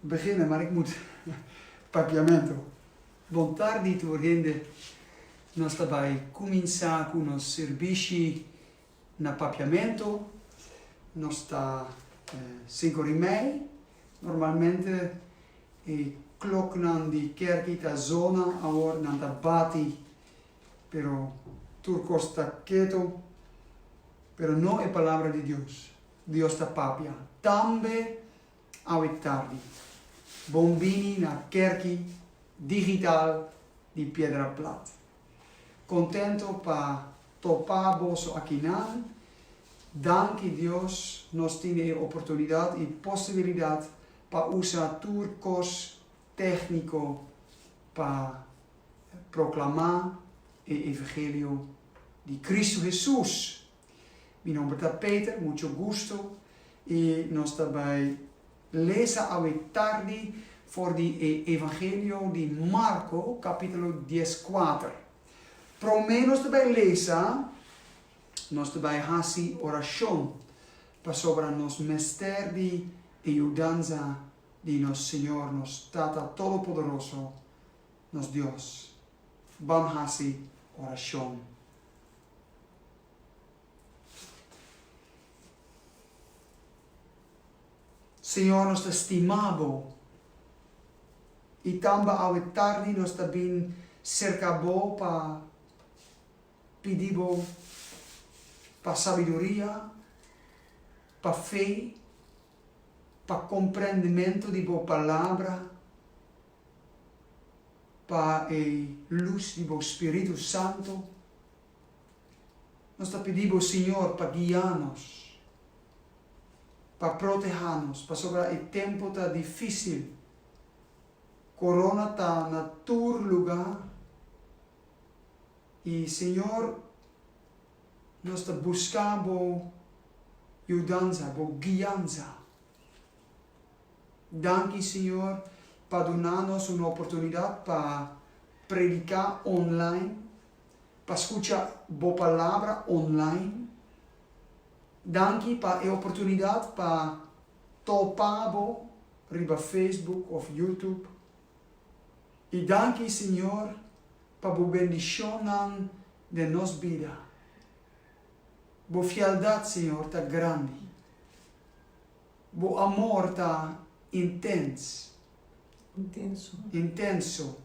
Begina mar ik mut papiamento. Bon tardi tur hende, nos ta bai kuminsá ku nos sirbishi na papiamento, nos ta sinku rimei, normalmente e kloknan di kèrki ta zona awor nan ta bati pero tur kos ta keto pero no e palabra di Dios Dios ta papia tambe awe tardi. Bon bini na kerki digital di Piedra Plat. Kontento pa topa boso akinan. Danki Dios nos tin e oportunidat i posibilidat pa usa tur kos tekniko pa proklamá e evangelio di Kristu Hesus. Mi nomber ta Peter, mucho gusto y nos ta bay lesa awe tardi for di e Evangelio di Marco capitulo dies kuater. Prome nos ta bay lesa, nos ta bay haci oracion pasobra nos mester di e yudanza di nos Señor, nos Tata Todopoderoso, nos Dios. Bam haci oracion. Señor, nos ta stima Bo, i tambe awe tardi nos ta bin serka Bo pa pidi Bo pa sabiduria, pa fe, pa komprendimentu di Bo Palabra. pa e lus di bo Spiritu Santu. Nos ta pidi bo, Siñor, pa guia nos, pa proteha nos, pasobra e tempu ta difisil, corona ta na tur luga, i Siñor, nos ta buska bo yudanza, bo guianza. Danki Señor pa duna nos un oportunidad pa predica online, pa scucha Bo Palabra online. Danki pa e oportunidad pa topa Bo riba Facebook of YouTube. Y danki Señor pa Bo bendicionnan den nos bida. Bo fialdad Señor ta grandi. Bo amor ta intens. Intenso. Intenso.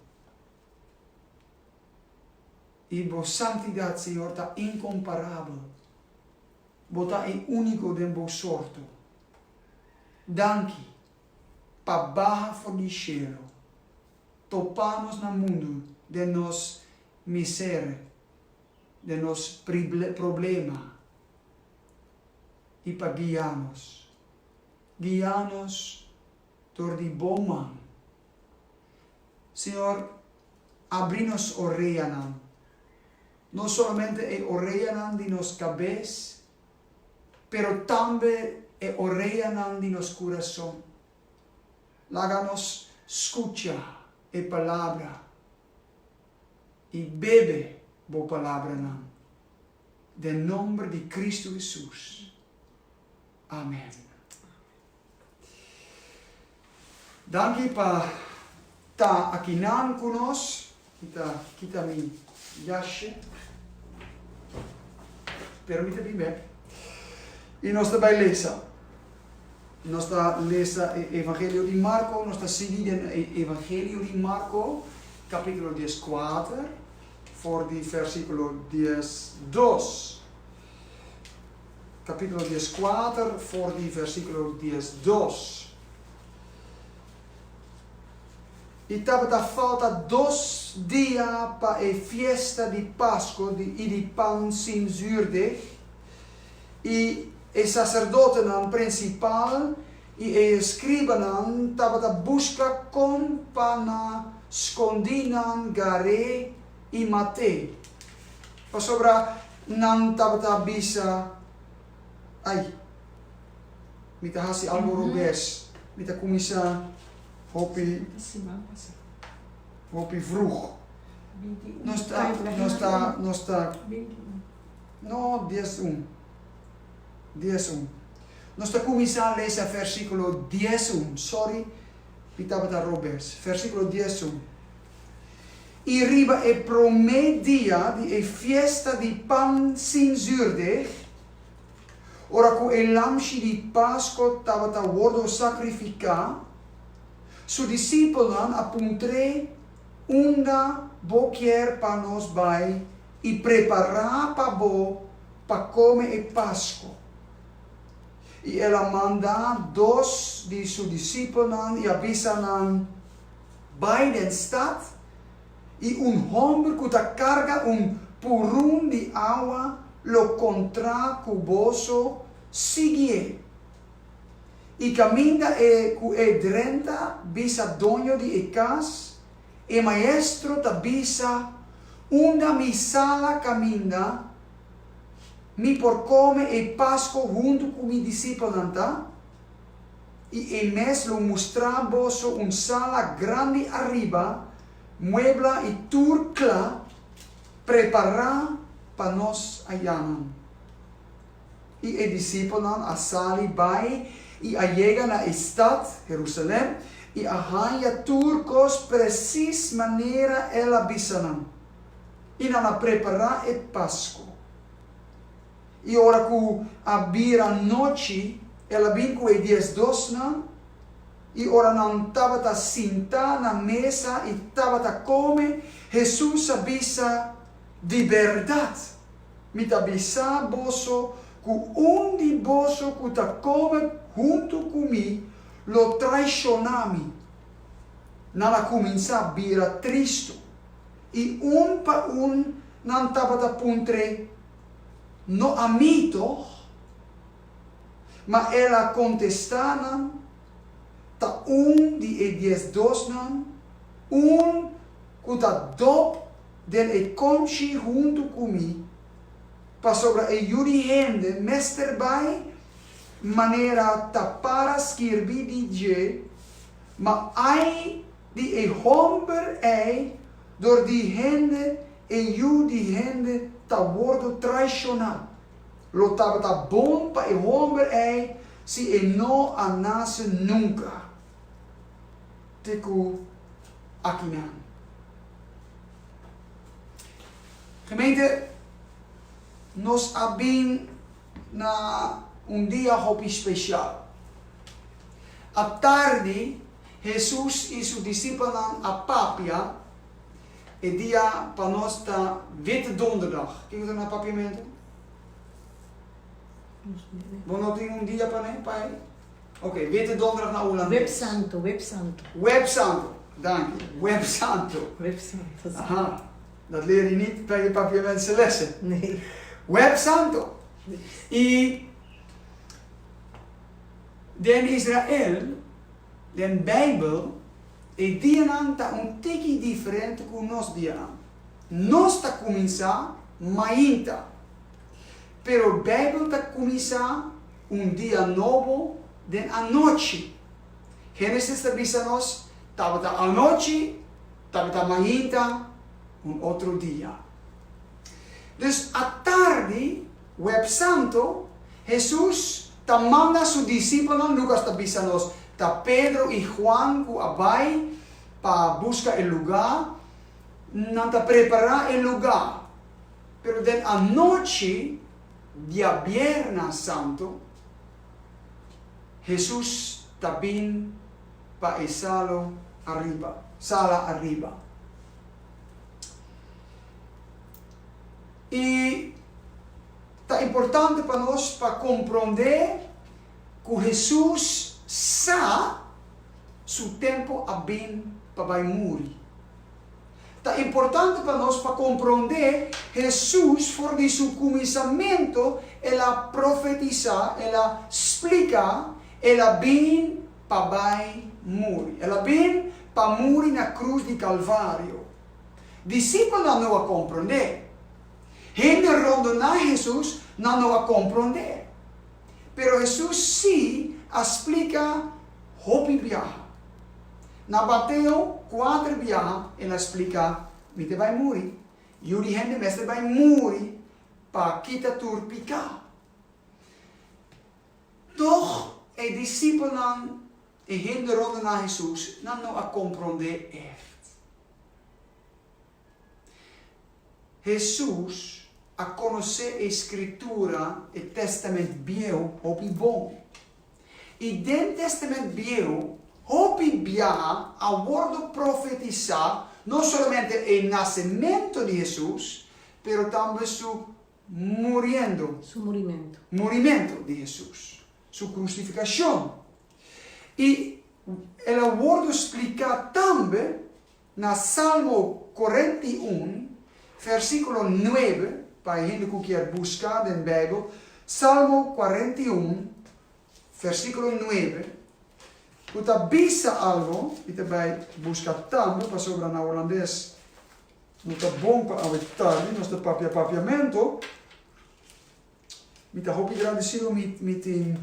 I bo santidad, Señor, ta incomparabel. Bo ta e unico den bo sorto. Danki pa baha for di shelo, topa nos na mundu den nos miser, den nos problema, i pa guia nos. Guia nos dor di bo man. Señor, abri nos oreanan, no solamente e oreanan di nos kabes, pero tambe e oreanan di nos kurason. Laga nos skucha e palabra i bebe bo palabranan. den nomber di Cristo Hesus, amen. Danki pa ta akinan ku nos. Mi ta kita mi yashi, pero mi ta bin bek. I nos ta bai lesa. Nos ta lesa e Evangelio di Marko, nos ta sigui den e Evangelio di Marko, kapitulo dies kuater. for di versikulo dies dos, kapítulo dies kuater for di versikulo dies dos. I tabata falta dos dia pa e fiesta di Pasko i di Pan Sin Zuurdeg, i e saserdotenan prensipal, I e eskribanan tabata buska kon pa na skondí nan gar'é i mat'é, pasobra nan tabata bisa, Ai, mi ta hasi algu robes, mi ta kuminsá hopi hopi vrug. Nos ta, nos ta, nos ta, no, dies un. dies un. Nos ta kuminsá lesa versíkulo dies un, sòri mi tabata robes, versíkulo dies un. I riba e promé dia di e fiesta di Pan Sin Zurde, ora ku e lamshi di Pasko tabata wordu sakrifiká, su disipelnan a puntr'é, Unda bo kier pa nos bai i prepará pa bo pa kome e Paskua. I el a manda dos di su disipelnan i a bisa nan, Bai den stat, i un hòmber ku ta karga un purun di awa lo kontrá ku boso, sigié. I kaminda e ku e drenta bisa doño di e kas, E maestro ta bisa, Unda mi sala kaminda, mi por kome e Pasko huntu ku mi disipelnan ta? I e mes lo mustra boso un sala grandi ariba, muebla i tur kla prepará pa nos ayanan. I e disipelnan a sali bai i a yega na e stat, Herusalen, i a hanja tur kos presis manera el a bisa nan, i nan a prepará e Pasko. I ora ku a bira nochi, el a bin ku e dies dosnan, i ora nan tabata sintá na mesa i tabata kome, Hesus a bisa, Di bèrdat! Mi ta bisa boso ku un di boso ku ta kome huntu ku mi lo traishoná mi. Nan a kuminsá bira tristu, i un pa un nan tabata puntr'é, No ami, tòg? Ma el a kontestá nan, Ta un di e diesdosnan, un ku ta dòp den e konchi huntu ku mi, pasobra e yu di hende mester bai manera ta para skirbi di dje, ma ai di e hòmber ei dor di hende e yu di hende ta wordu traishoná. Lo tabata bon pa e hòmber ei si e no a nase nunka! te ku akinan. Gemeente, nos a bin na un dia hopi spesial. Atardi, Hesus i su disipelnan a papia. E dia pa nos ta Wit Donderdag. Kiko ta na papiamentu? Bo no tin un dia pa ne, pa ei? Oke, mi ta donkerag na Hulandes. Web santo, web santo. Web santo, danki. Web santo. Web santo, si. Aha. Dat leer i nit ta e Papiamense lessen. Nee. Web santo. I den Israel, den Bijbel, e dianan ta un tiki diferente ku nos dianan. Nos ta kuminsá mainta, pero Bijbel ta kuminsá un dia nobo den anochi. Génesis ta bisa nos, Tabata anochi, tabata mainta, un otro dia. Dus atardi, Websanto, Hesus ta manda su disipelnan, Lucas ta bisa nos ta Pedro i Juan cu a bai pa busca e luga, nan ta prepara e luga, pero den anochi, Diabierna Santu, Hesus ta bin pa e salo ariba, sala ariba. I ta importante pa nos pa komprondé ku Hesus sa su tempu a bin pa bai muri. Ta importante pa nos pa komprondé Hesus for di su kuminsamentu el a profetisá, el a splika el a bin pa bai muri. El a bin pa muri na krus di Kalvario. Disipelnan no a komprondé. Hende rondoná Hesus nan no a komprondé. Pero Hesus sí a splika hopi biaha. Na bateo kuater biaha el a splika, Mi te bai muri. Yu di hende mester bai muri pa kita tur piká. Tòg, e disipelnan, e hende rònde na Hesus, nan no a komprondé èrt. Hesus a konosé e Skritura, e Tèstamènt Bieu, hopi bon. I den Tèstamènt Bieu, hopi biaha a wòrdu profetisá no solamente e nasementu di Hesus, pero tambe su muriendo, Su murimentu. murimentu di Hesus, su krusifikashon. I el a wòrdu spliká tambe Na Salmo korenta i un, versíkulo nuebe, pa e hende ku kier buska den Beibel, Salmo korenta i un, versíkulo nuebe, ku ta bisa algu, mi ta bai buska tambe pasobra na Holandes no ta bon pa awe tardi, nos ta papia papiamentu. Mi ta hopi grandecido mi mi tin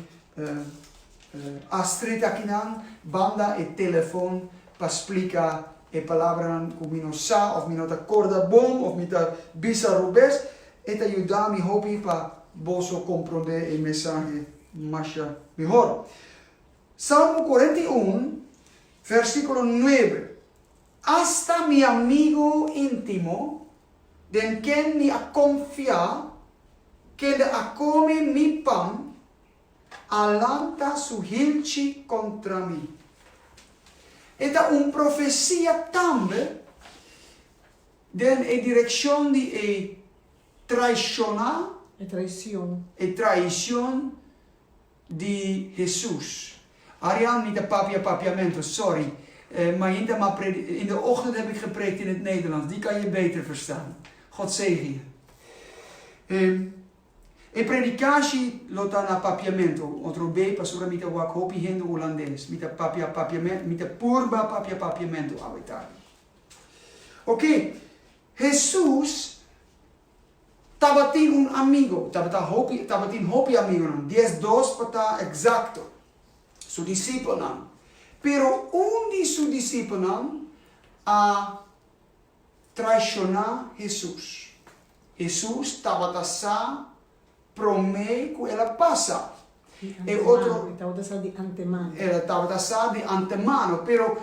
Astrid akinan banda e telefon pa splica e palabranan cu mi no sa of mi no ta corda bon of mi ta bisa rubes. E ta yuda mi hopi pa boso comprende e mensahe masha mihor. Salmo cuarenta y un, versiculo nuebe. Asta mi amigu intimo, den ken mi a konfia, kende a komi mi pan, a lanta su hilchi kontra mi. E ta un profesia tambe den e direkshon di e traishoná, e traishon. di Hesus. Ariel, mi ta papia papiamento, sorry, ma in ta ma pred, in de ochtend heb ik gepreekt in het Nederlands, die kan je beter verstaan. God zegen je. Ehm, e predikashi lo ta na papiamento, otro be, pasobra mi ta wak hopi hende Hulandes, mi ta papia papiamento, mi ta purba papia papiamento awe tardi. Oke, Hesus. Tabatin un amigo, tabata hopi, tabatin hopi amigonan, dies dos pa ta exacto, su disipelnan. Pero un di su disipelnan a traishoná Hesus. Hesus tabata sa Promé ku el a pasa, e otro. Di antemano, e tabata sa di antemano. El a tabata sa di antemano, pero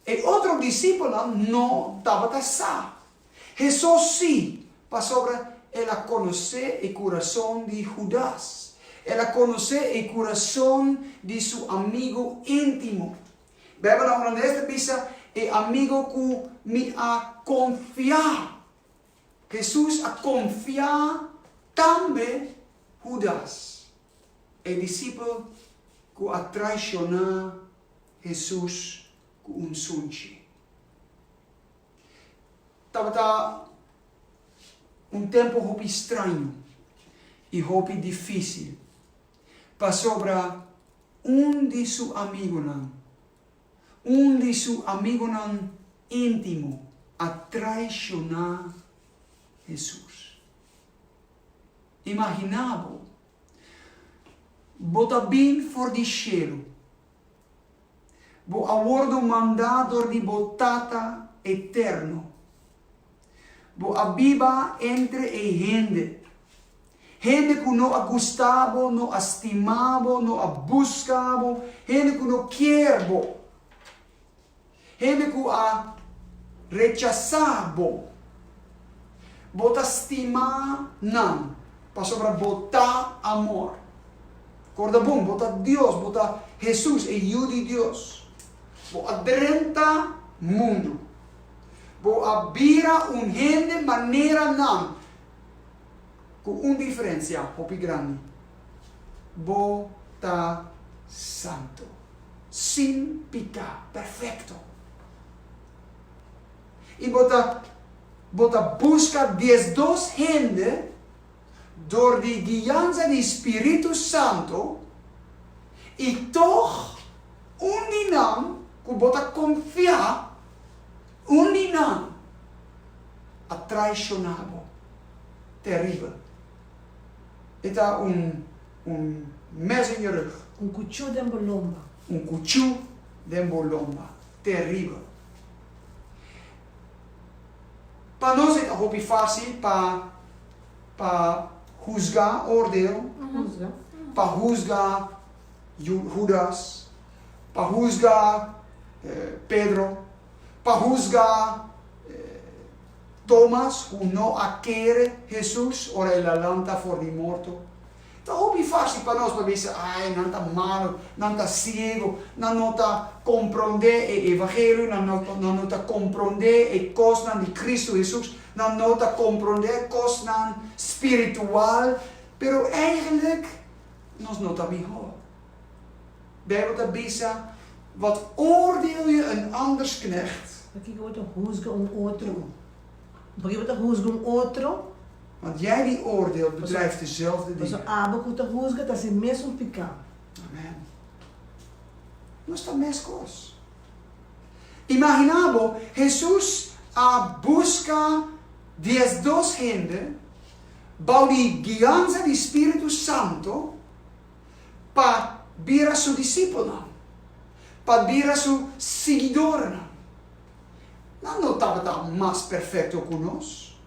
e otro disipelnan no tabata sa. Hesus sí, pasobra el a konosé e kurason di Hudas. El a konosé e kurason di su amigu íntimo. Beibel ta holandes ta bisa e amigu ku mi a konfiá. Hesus a konfiá tambe Hudas, e disipel ku a traishoná Hesus ku un sunchi. Tabata un tempu hopi straño i hopi difísil, pasobra un di su amigunan Un di su amigonan íntimo a traishoná Hesus. Imaginá bo, bo ta bin for di shelu, bo a wòrdu mandá dor di bo Tata Eterno. Bo a biba entre e hende. Hende ku no a gusta bo, no a stima bo, no a buska bo, hende ku no kier bo, hende ku a rechasá bo. Bo ta stima nan pasobra bo ta amor. Korda bon, bo ta Dios, bo ta Hesus, e Yu di Dios. Bo a drenta mundu. Bo a bira un hende manera nan ku un diferensia hopi grandi. Bo ta santo, sin piká, perfekto. I bo ta bo ta buska diezdos hende dor di guianza di spiritu santo i tòg un di nan ku bo ta konfia, Un di nan a traishona bo teribel. E ta un un mes en je rug. Un kuchu den bo lomba. Un kuchu den bo lomba. Teribel. Pa nos e ta hopi fásil pa pa husga, oordeel, pa husga Hudas, pa husga Pedro, pa husga Tomas ku no a kere Hesus ora el a lanta for di morto. Ta hopi fásil pa nos pa bisa, Ai, nan ta malu, nan ta siegu, nan no ta komprondé e evangelio, nan no ta komprondé e kosnan di Kristu Hesus, nan no ta komprondé kosnan spiritual. Pero, eigenlijk, nos no ta mihó. Bijbel ta bisa, Wat oordeel je een anders knecht? Pakiko bo ta huzga un otro? Pakiko bo ta huzga un otro? Want jij die oordeelt, bedrijft dezelfde dingen. Paso abo ku ta huzga ta hasi mes un piká. Amen. Nos ta meskos. Imaginá bo, Hesus a buska diesdos hende bou di guianza di Spiritu Santo pa bira su disipelnan, pa bira su siguidornan. Nan no tabata mas perfecto cu nos,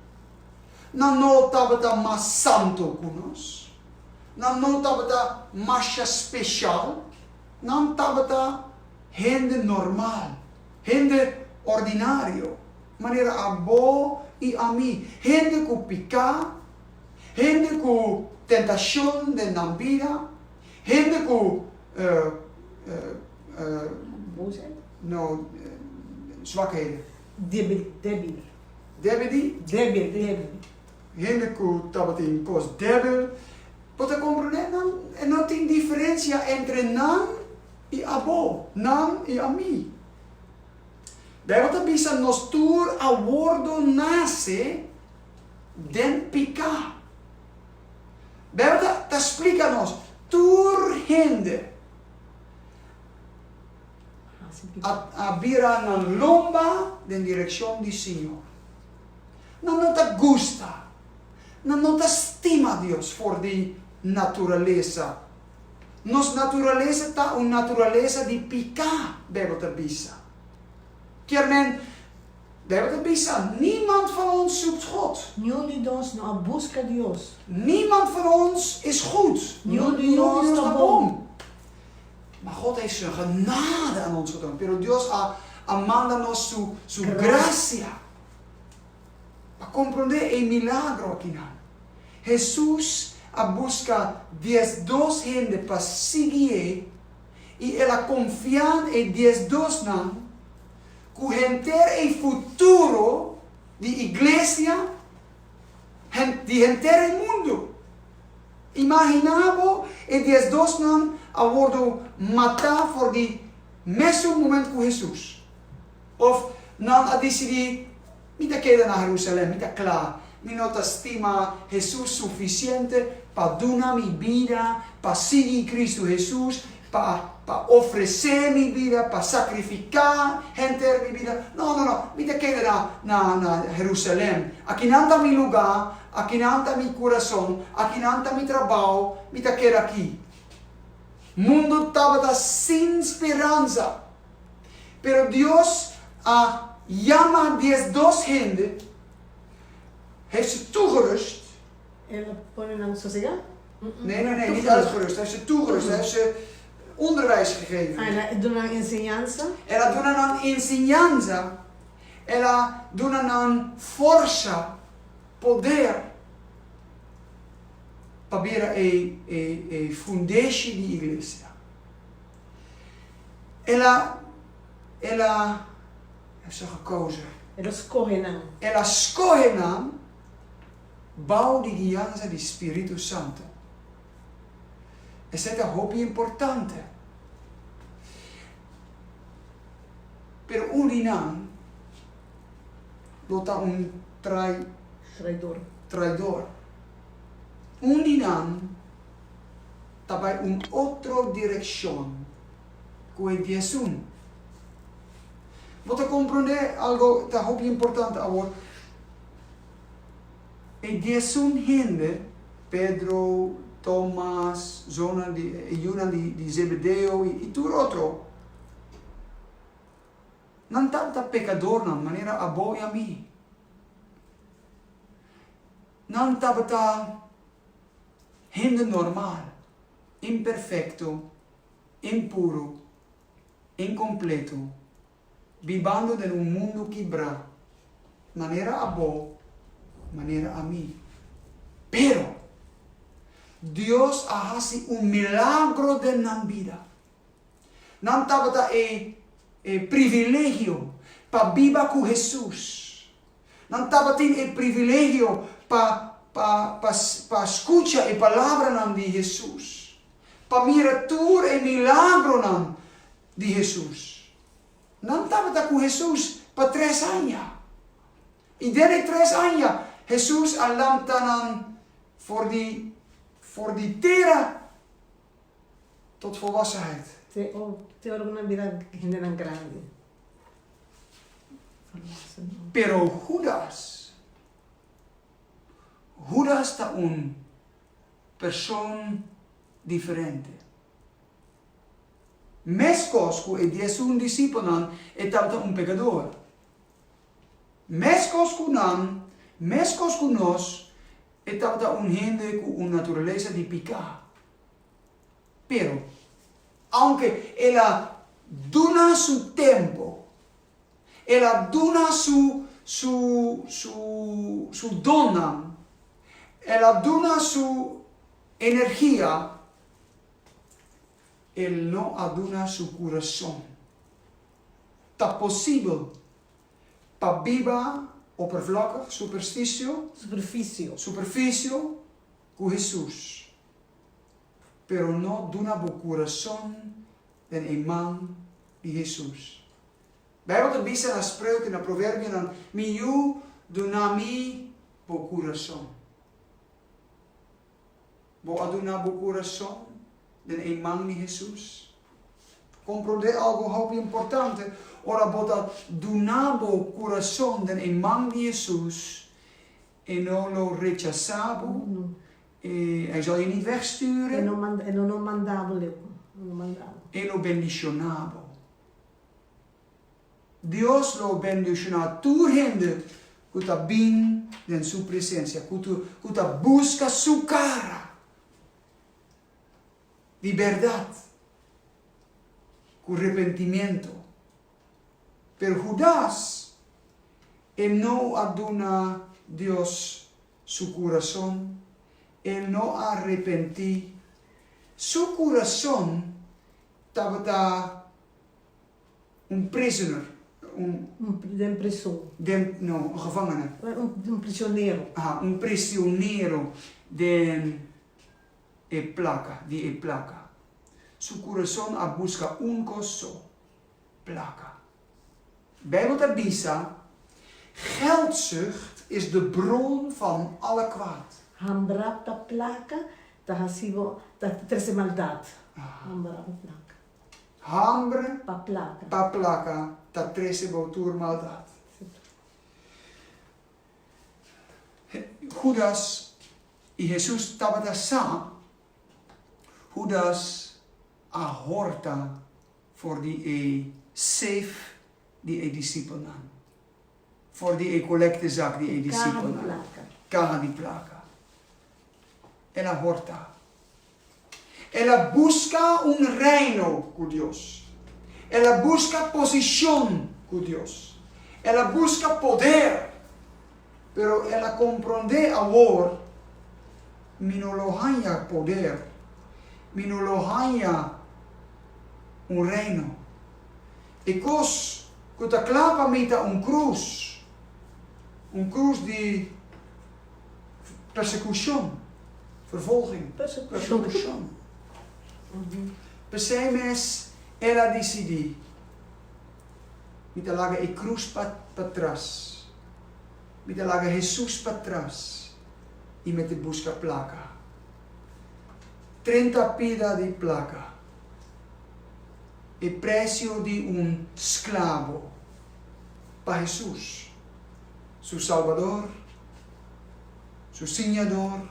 nan no tabata mas santo cu nos, nan no tabata masha special, nan tabata hende normal, hende ordinario. Manera abo i ami, hende ku piká, hende ku tentashon den nan bida, hende ku swakheden, hende ku tabatin kos débil, bo ta komprondé nan e no tin diferensia entre nan i abo, nan i ami. Bijbel ta bisa, Nos tur a wordo nase den piká. Bijbel ta splika nos, Tur hende a bira nan lomba den direkshon di Señor. Nan no ta gusta, nan no ta stima Dios for di naturalesa. Nos naturalesa ta un naturalesa di piká, Beibel ta bisa. Kier men, Beibel ta bisa, Niemand van ons zoekt God. Niun di nos no a buska Dios. Niemand van ons is goed. Niun di nos ta bon. Ma God a esun genade aan ons getoon, pero Dios a manda nos su grasia. Pa komprondé e milagro akinan, Hesus a buska diesdos hende pa sigui e i el a konfiá e diesdosnan ku henter e futuro di iglesia di henter e mundu. Imaginá bo e diesdosnan a wordu matá for di mesun moment ku Hesus. Of nan a disidí, Mi ta keda na Herusalen, mi ta kla, mi no ta stima Hesus sufisiente pa duna mi bida pa sigui Kristu Hesus, pa pa ofresé mi bida, pa sakrifiká henter mi bida. No, no, no, mi ta keda na na na Herusalen. Akinan ta mi lugá, akinan ta mi kurason, akinan ta mi trabou, mi ta keda akí. Mundu tabata sin speransa Pero Dios a yama diesdos hende herzetugerust. El a pone nan sosega? Nee, nee, nee, niet uitgerust, hij heeft ze toegerust, hij heeft ze onderwijs gegeven. Ah, el a duna nan enseñansa. El a duna nan enseñansa, el a duna nan forsa, poder, pa bira e fundeshi di iglesia. El a, El a, a sa gekouze. El a skohe nan. El a skohe nan bou di guianza di Spiritu Santu. Esei ta hopi importante. Pero un di nan lo ta un trai, Traidor. traidor. Un di nan. ta bai un otro direkshon ku e diesun. Bo ta komprondé algo ta hopi importante awor. E diesun hende, Pedro, Tomas, zonan di, e yunan di Zebedeo i tur otro, nan tabata pekadornan manera abo i ami. Nan tabata. Hende normal, imperfecto, impuro, incompleto, bibando den un mundo kibra, manera abo, manera ami. Pero, Dios a haci un milagro den nan bida. Nan tabata e privilegio pa biba cu Hesus. Nan tabatin e privilegio pa pa pa pa skucha e palabranan di Hesus, pa mira tur e milagronan di Hesus. Nan tabata ku Hesus pa tres aña, i den e tres aña Hesus a lamta nan for di for di tera. tot volwassenheid. Te o te ora ku nan bira hendenan grandi. Pero Hudas, Hudas ta un person diferente. Meskos ku e diesun disipelnan, e tabata un pekador. Meskos ku nan, meskos ku nos, e tabata un hende ku un naturalesa di piká. Pero, aunke el a duna su tempu, el a duna su su su su donnan, el a duna su energia, el no a duna su kurason. Ta posibel pa biba opervlokkig, supersticio, Superficio. superficio, ku Hesus, pero no duna bo kurason den e man di Hesus. Beibel ta bisa na Spreuke i na Proverbionan, Mi yu, duna mi bo kurason. Bo a duna bo kurason den e man di Hesus? Komprondé algu hopi importante, ora bo ta duna bo kurason den e man di Hesus, E no lo rechasá bo, E zòl je nit wegstüre, E lo bendishoná bo. Dios lo bendiciona tur hende cu ta bin den su presencia, cu ta busca su cara di berdad cu repentimiento. Pero Judas e no a duna Dios su curazon, e no a repenti, su curazon tabata Un prisoner, un. Un den prison. Den, no, un gevangene. Un prisionero. Aha, un prisionero den e plaka, di e plaka. Su kurason a buska un kos so, plaka. Bijbel ta bisa, Geldzucht is de bron van alle kwaad. Hambra pa plaka ta hasi bo, ta trese maldat. Hambra pa plaka. Hambre pa plaka ta trese bo tur maldat. Judas i Hesus tabata sa, Judas a horta for di e seif di e disipelnan, for di e kolektezak di e disipelnan, kaha di plaka. El a horta. El a buska un reino ku Dios. El a buska posishon ku Dios. El a buska poder. Pero el a komprondé awor, Mi no lo haña poder. Mi no lo haña un reino. E kos ku ta kla pa mi ta un krus, un krus di. Persecucion, vervolging. Persecucion. P'esei mes el a dicidi, Mi ta laga e cruz patras, mi ta laga Jesus patras y me ta busca placa. Trenta pida di placa, e precio di un sclavo pa Jesus. su Salbador, su Siñador,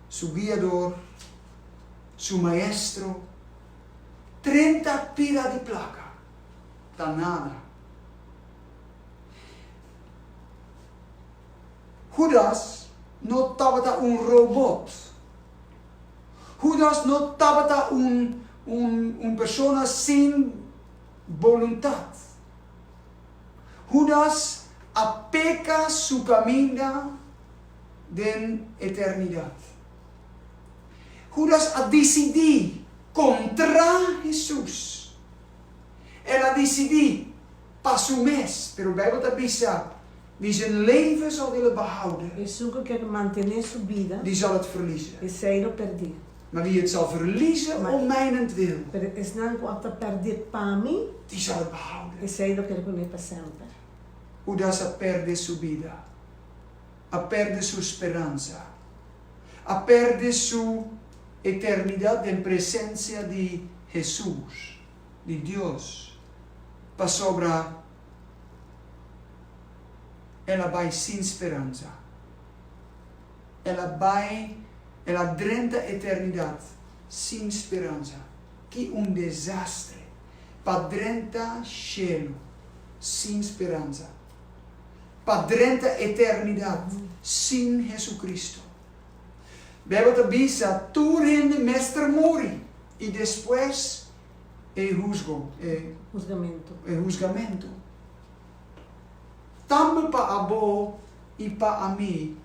su Guiador, su Maestro, trenta pila di plaka ta nada. Hudas no tabata un robot. Hudas no tabata un persona sin boluntat. Hudas a peka su kaminda den eternidat. Hudas a disidí kontrá Hesus. El a disidí pa su mes, pero Beibel ta bisa, Wie zijn leven zal willen behouden, Esun ku kier mantené su bida, die zal het verliezen. esei lo pèrdí. Ma wie het zal verliezen om mijnentwil. Pero esnan ku a ta pèrdè pa mi. Die zal behouden. Esei lo ker bun'é pa semper. Hudas a pèrdè su bida. A pèrdè su speransa. A pèrdè su eternidat den presensia di Hesus, di Dios, pasobra el a bai sin speransa. El a bai, el a drenta eternidat sin speransa. Ki un desastre pa drenta shelu sin speransa, pa drenta eternidat sin Jesucristo! Bijbel ta bisa, Tur hende mester muri i despues e husgo, e husgamentu. Tambe pa abo i pa ami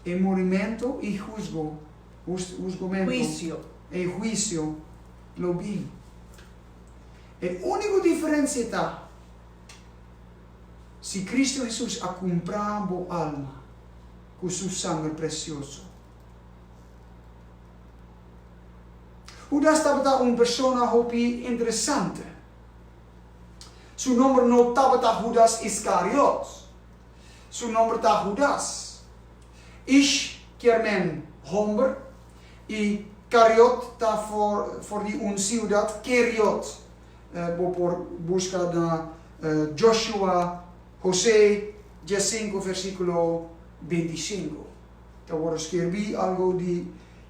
e murimentu i husgo, husgomentu, Huisio. e huisio, lo bin. E único diferensia ta si Cristo Hesus a cumpra bo alma cu su sanger precioso. Hudas tabata un persona hopi interesante. Su nomber no tabata Hudas Iskariot. Su nomber ta Hudas. Ish kier men homber i Kariot ta for di un siudat Keriot. Bo por buska na Joshua Hosé dje sinku versíkulo binti sinku. Ta wòrdu skerbí algu di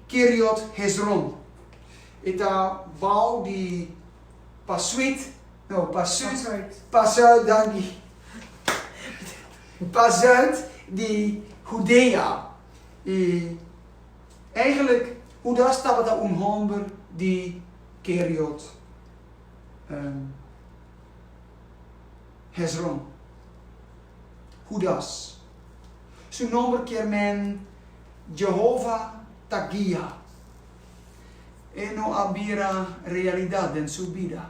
Keriot Hezron. E ta bou di. Pasuit, no, pasuit, pasuit danki, pasuit di Hudea. I eigenlik Hudas tabata un hòmber di Keriot Hezron. Hudas. Su nòmber kier men Jehova ta guia. E no a bira realidat den su bida,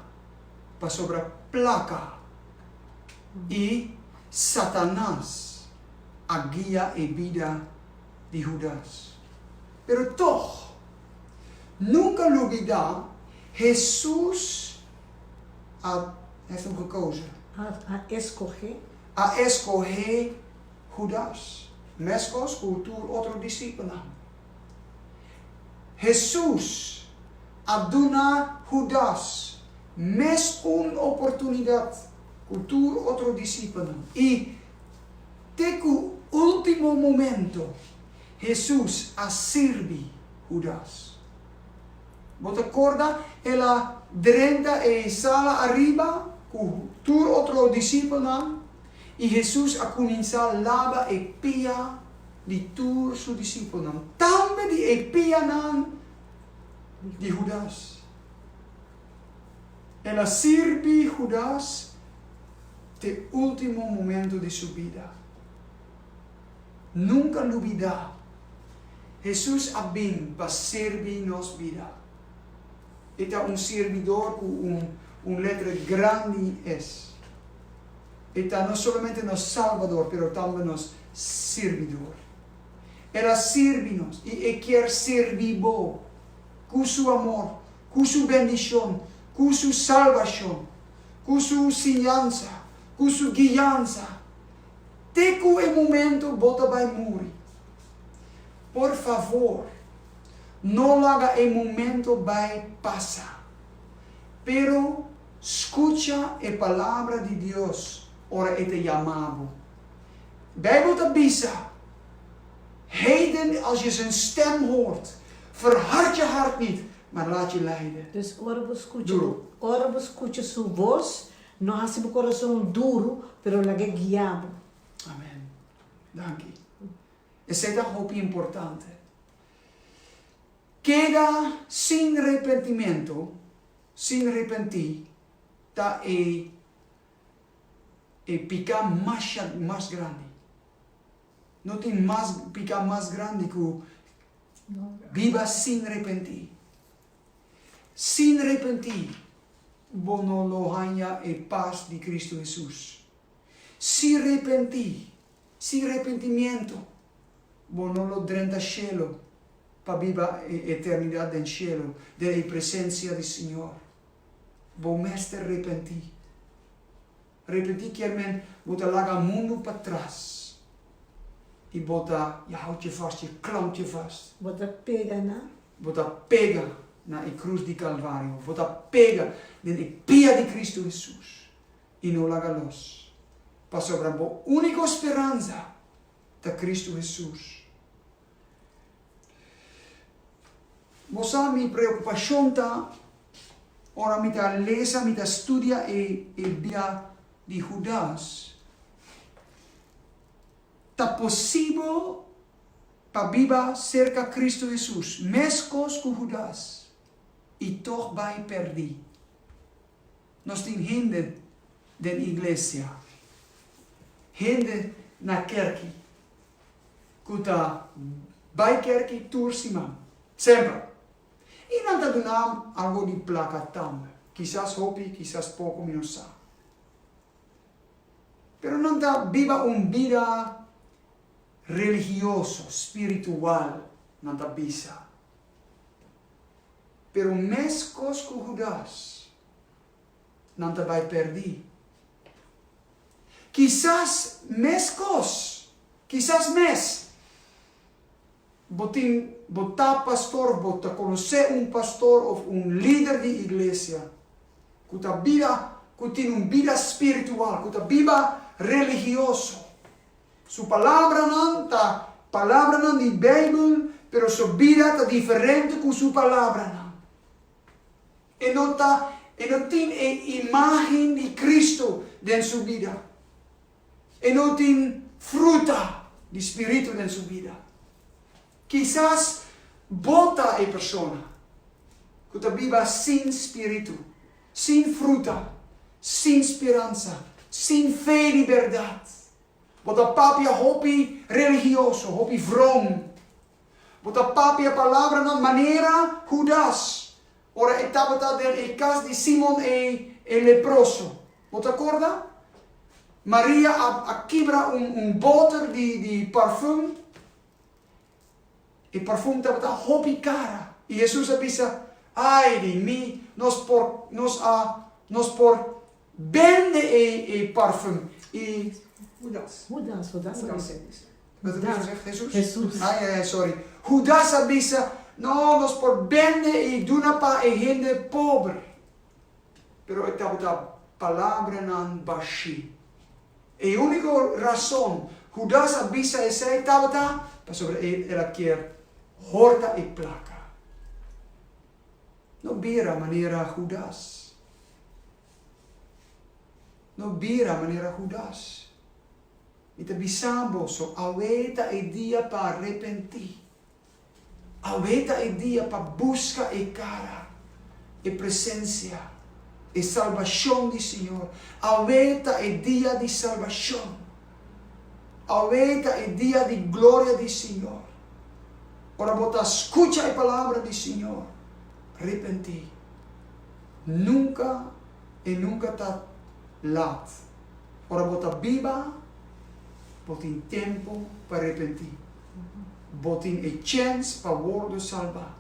pasobra plaka i Satanas a guia e bida di Hudas. Pero tòg, nunka lubidá Hesus a hef un gekozen. A eskohé. A eskohé Hudas, meskos ku tur otro disipelnan. Hesus a duna Hudas mes un oportunidat ku tur otro disipelnan, i te ku último momento Hesus a sirbi Hudas. Bo ta korda el a drenta e ensala ariba ku tur otro disipelnan i Hesus a kuminsá laba e pia? di tur su disipelnan, tambe di e pianan di Hudas. El a sirbi Hudas te ultimo momento di su bida. Nunka lubidá, Hesus a bin pa sirbi nos bida. E ta un sirbidor ku un letra grandi es. E ta no solamente nos Salbador, pero tambe nos. sirbidor. El a sirbi nos i e kier sirbi bo ku su amor, ku su bendishon, ku su salbashon, ku su siñansa, ku su guiansa te ku e momento bo ta bai muri. Por favor, no laga e momento bai pasa, pero skucha e palabra di Dios ora e ta yama bo. Bijbel ta bisa, Heden, als je zijn stem hoort, verhard je hart niet, maar laat je leiden. Dus ora bo skucha, ora bo skucha su bos, no hasi bo korason duru, pero lag'é guia bo. Amen. Danki. Esei ta hopi importante. Keda sin repentimentu, sin repentí, ta e E piká masha mas grandi. No tin mas piká mas grandi ku biba sin repentí. Sin repentí bo no lo haña e pas di Kristu Hesus. Si repentí, sin repentimiento, bo no lo drenta shelu pa biba e eternidat den shelu, den e presensia di Señor. Bo mester repentí. Repentí kier men bo ta laga mundu patras i bo ta yahau tjefas, je klau tjefas. Bo ta pega na. Bo ta pega na e krus di Kalvario. Bo ta pega den e pia di Kristu Hesus i no laga los, pasobra bo úniko speransa ta Kristu Hesus. Bo sa mi preocupacion ta ora mi ta lesa, mi ta studia e bia di Hudas. Ta posibel pa biba cerca Cristo Jesus, mescos cu Hudas, y toch bay perdi. Nos tin hende den iglesia, hende na kerki ku ta bai kerki tur siman, semper. I nan ta duna nam algu di plaka tambe, kisas hopi, kisas poko, mi no sa. Pero nan ta biba un bida religioso, spiritual, nan ta bisa. Pero meskos ku Hudas, nan ta bai pèrdí. Kisas meskos, kisas mes bo tin, bo ta pastor òf bo ta konosé un pastor òf un lider di iglesia ku ta bida, ku tin un bida spiritual, ku ta biba religioso. Su palabranan ta palabranan di Beibel, pero su bida ta diferente ku su palabranan. E no ta, e no tin e imágen di Kristu den su bida. E no tin fruta di Spiritu den su bida. Kisas bo ta e persona ku ta biba sin spiritu, sin fruta, sin speransa, sin fe di bèrdat. Bo ta papia hopi religioso, hopi vrom. Bo ta papia palabranan manera Hudas ora e tabata den e kas di Simon ei, e leproso. Bo ta korda? Maria a kibra un boter di parfùm. E perfum tabata hopi kara. I Hesus a bisa, Ai di mi, nos por nos a nos por bende e e perfum. I. Hudas. Hudas a bisa. Wat a bisa? Hesus? Hesus. Ai, ai, ai, sorry. Hudas a bisa, No, nos por bende i duna pa e hende pober. Pero e tabata palabranan bashí. E úniko rason Hudas a bisa esei tabata pasobra e el a kier horta e plaka. No bira manera Hudas. No bira manera Hudas. Mi ta bisan boso, awei ta e dia pa arepentí. Awe ta e dia pa buska e cara, e presencia, e salbacion di Señor. Awe ta e dia di salbacion. Awe ta e dia di gloria di Señor. Ora bo ta scucha e palabra di Señor, ripenti. Nunca y nunca ta lat. Ora bo ta biba, bo tin tempo pa ripenti. bo tin e chèns pa wordo salbá.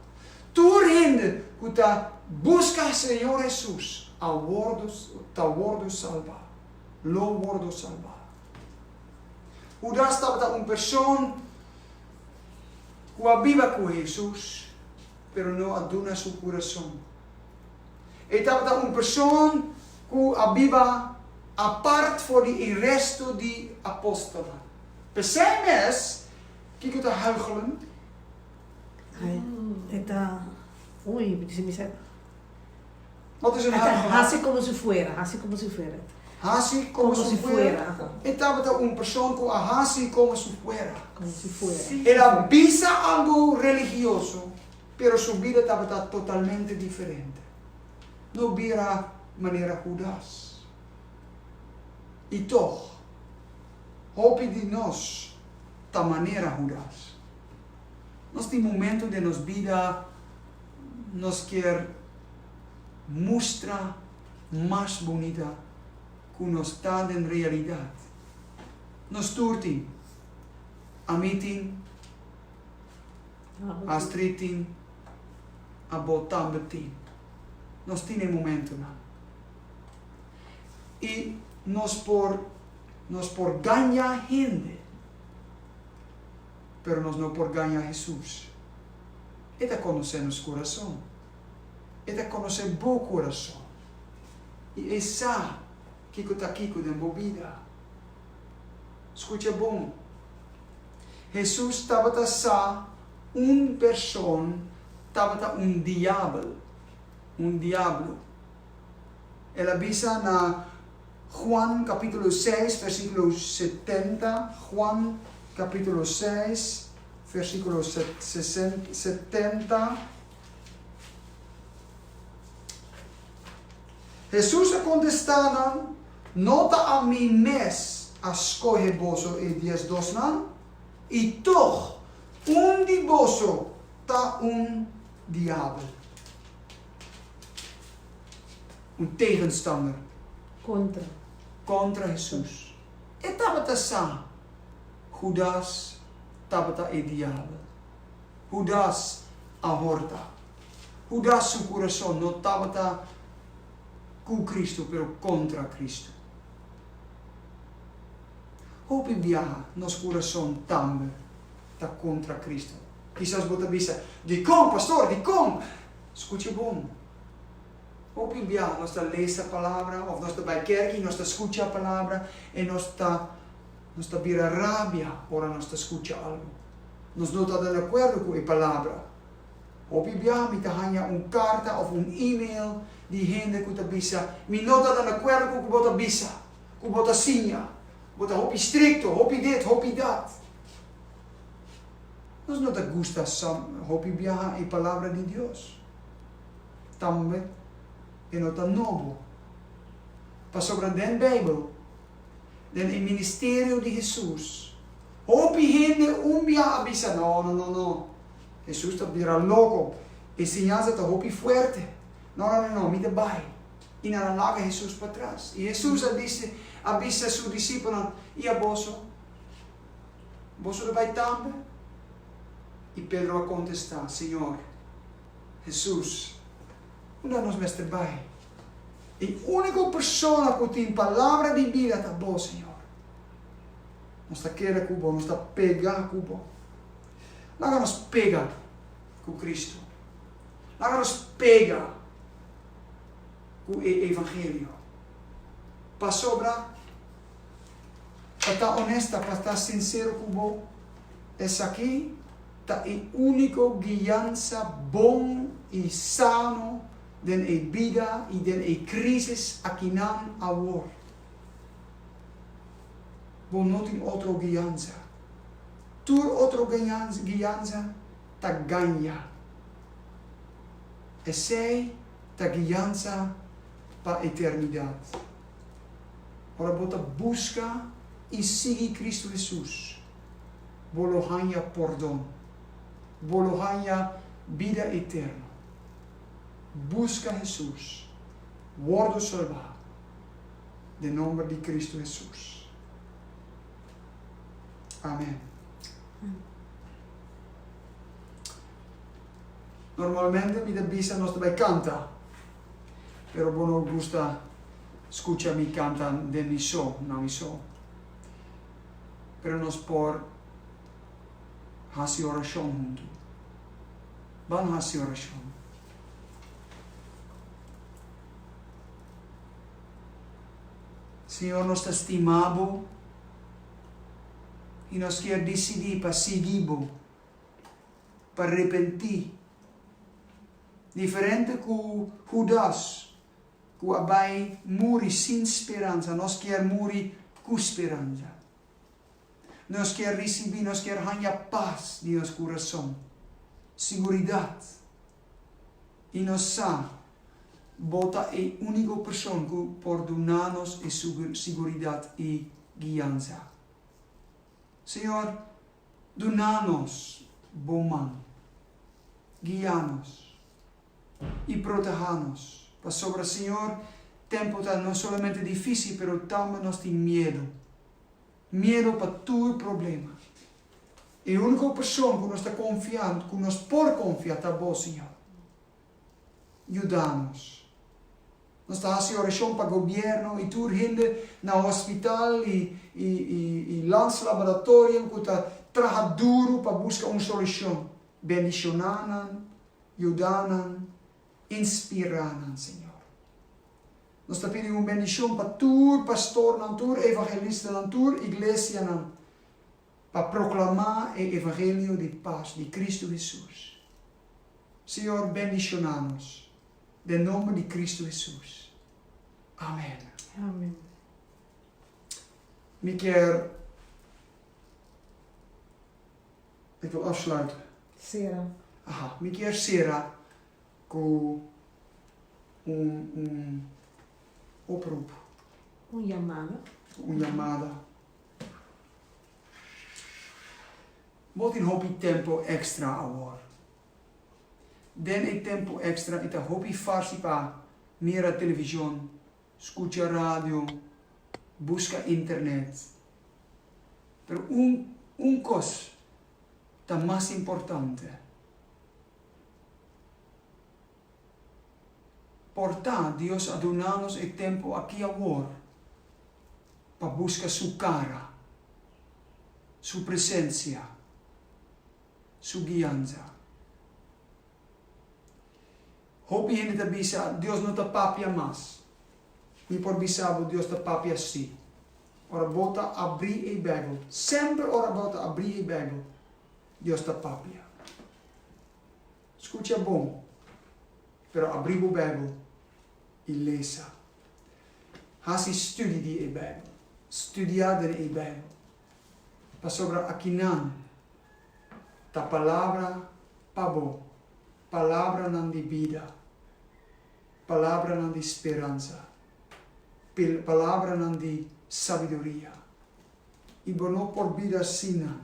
Tur hende ku ta buska Señor Hesus a wordo ta wordo salbá, lo wordo salbá. Hudas tabata un person ku a biba ku Hesus, pero no a duna su kurason. E tabata un person ku a biba apart for di e resto di apòstelnan. P'esei mes, kiko ta huichelen? E ta, ui, mi disi misel. Wat is un huichelaar? E ta hasi komo si fuera, hasi komo si fuera. Hasi komo si fuera. E tabata un person ku a hasi komo si fuera. Komo si fuera. El a bisa algu religioso, pero su bida tabata totalmente diferente. No bira manera Hudas. I tog. Hopi di nos ta manera Hudas. Nos tin momento den nos bida nos kier mustra mas bunita ku nos ta den realidat. Nos tur tin. Ami tin, Astrid tin, abo tambe tin. Nos tin e momentunan. I nos por. Nos por gaña hende, pero nos no por gaña Hesus. E ta conoce nos curason. E ta conoce bo curason y e sa kico ta kico den bo bida. Scucha bon, Hesus tabata sa un persoon tabata un diabel, un diablo. El a bisa na Juan capítulo seis versículo setenta, Juan capítulo seis versículo setenta, Hesus a contesta nan, No ta a mi mes a scohe boso e dies dosnan? I toch un di boso ta un diabel. Un tegenstander. Kontra. Kontra Hesus. E tabata sa Hudas tabata e diabel. Hudas a horta. Hudas su kurason no tabata ku Kristu, pero kontra Kristu. Hopi biaha nos kurason tambe ta kontra Kristu. Kisas bo ta bisa, Dikon, pastor, dikon, Skucha bon. Hopi biaha nos ta lesa palabra òf nos ta bai kèrk i nos ta skucha palabra i nos ta nos ta bira rabia ora nos ta skucha algu. Nos no ta deakuerdo ku e palabra. Hopi biaha mi ta haña un karta òf un email di hende ku ta bisa, Mi no ta deakuerdo ku ku bo ta bisa, ku bo ta siña. Bo ta hopi strikto, hopi dit, hopi dat. Nos no ta gusta sa hopi biaha e palabra di Dios. Tambe e no ta nobo. Pasobra den Beibel, den e ministerio di Hesus, hopi hende un biaha a bisa, No, no, no, no. Hesus ta bira loko. E siñansa ta hopi fuerte. No, no, no, no. Mi ta bai. I nan a laga Hesus patras. I Hesus a bisa su disipelnan, I a boso? Boso ta bai tambe? I Pedro a kontestá, Señor, Hesus, unda nos mester bai? E úniko persona ku tin palabra di bida ta Bo, Señor. Nos ta keda ku Bo, nos ta pega ku Bo. Laga nos pega ku Kristu. Laga nos pega ku e evangelio. Pasobra. pa ta onesta, pa ta sinsero ku bo, esaki ta e úniko guiansa bon i sano den e bida i den e krísis akinan awor. Bo no tin otro guiansa. Tur otro guiansa ta gaña. Esei ta guiansa pa eternidat. Ora bo ta buska i sigui Kristu Hesus, bo lo haña pordon, bo lo haña bida eterno. Buska Hesus, wordo salbá den nomber di Kristu Hesus. Amen. Normalmente mi ta bisa nos ta bai kanta. pero bo no gusta scucha mi canta den mi so, na mi so. Pero nos por haci oracion huntu. Ban haci oracion. Señor nos ta stima bo y nos kier dicidi pa sigui bo, pa repenti. Diferente ku Hudas, ku a bai muri sin speransa, nos kier muri ku speransa. Nos kier risibí, nos kier haña pas den nos kurason, siguridat, i nos sa Bo ta e úniko Person ku por duna nos e siguridat i guiansa. Señor, Duna nos bo man. Guia nos i proteha nos, pasobra Señor, tempu ta no solamente difícil, pero tambe nos tin miedu. Miedu pa tur problema. E único persoan cu nos ta confia, cu nos por confia ta bo, Señor. Yuda nos. Nos ta hasi orashon pa gobierno y tur hende na hospital y y lands laboratorium cu ta traha duro pa busca un solucion. Bendiciona nan, yuda nan, inspira nan Señor. Nos ta pidi un bendicion pa tur pastornan, tur evangelistanan, tur iglesianan. pa proclamá e evangelio di pas di Cristo Hesus. Señor bendiciona nos den nomber di Cristo Hesus. Amen. Amen. Mi kier Ik wil afsluiten. Sera. Aha, mi kier sera ku un un oproep. Un llamada. Un llamada. Bo tin hopi tempu èkstra awor. Den e tempu èkstra i ta hopi farsi pa mira televishon, skucha radio, buska internet. Pero un un kos ta mas importante. Por ta, Dios a duna nos e tempu aki awor pa buska Su cara, Su presencia, Su guianza. Hopi hende ta bisa, Dios no ta papia mas. Mi por bisa bo, Dios ta papia si. Ora bo ta abri e Bijbel, semper ora bo ta abri e Bijbel, Dios ta papia. Scucha bon, pero abri bo Bijbel i lesa. Haci studi di e Bijbel. Studia den e Bijbel. Pasobra akinan ta Palabra pa bo, Palabranan di bida, Palabranan di speransa, Palabranan di sabiduria. I bo no por bida sin nan.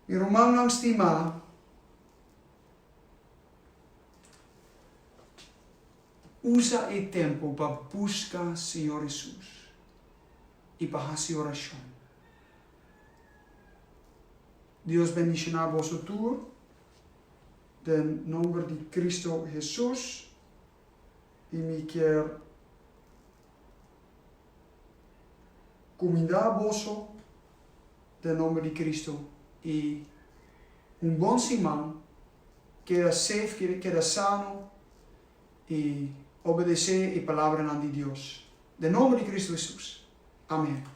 Mi rumannan stimá, usa e tempu pa buska Señor Hesus i pa hasi orashon. Dios bendishoná boso tur den nomber di Cristo Hesus i mi kier kumindá boso. den nomber di Cristo y un bon siman keda safe keda sano y obedece e palabranan di Dios den nomber di Cristo Jesus amen.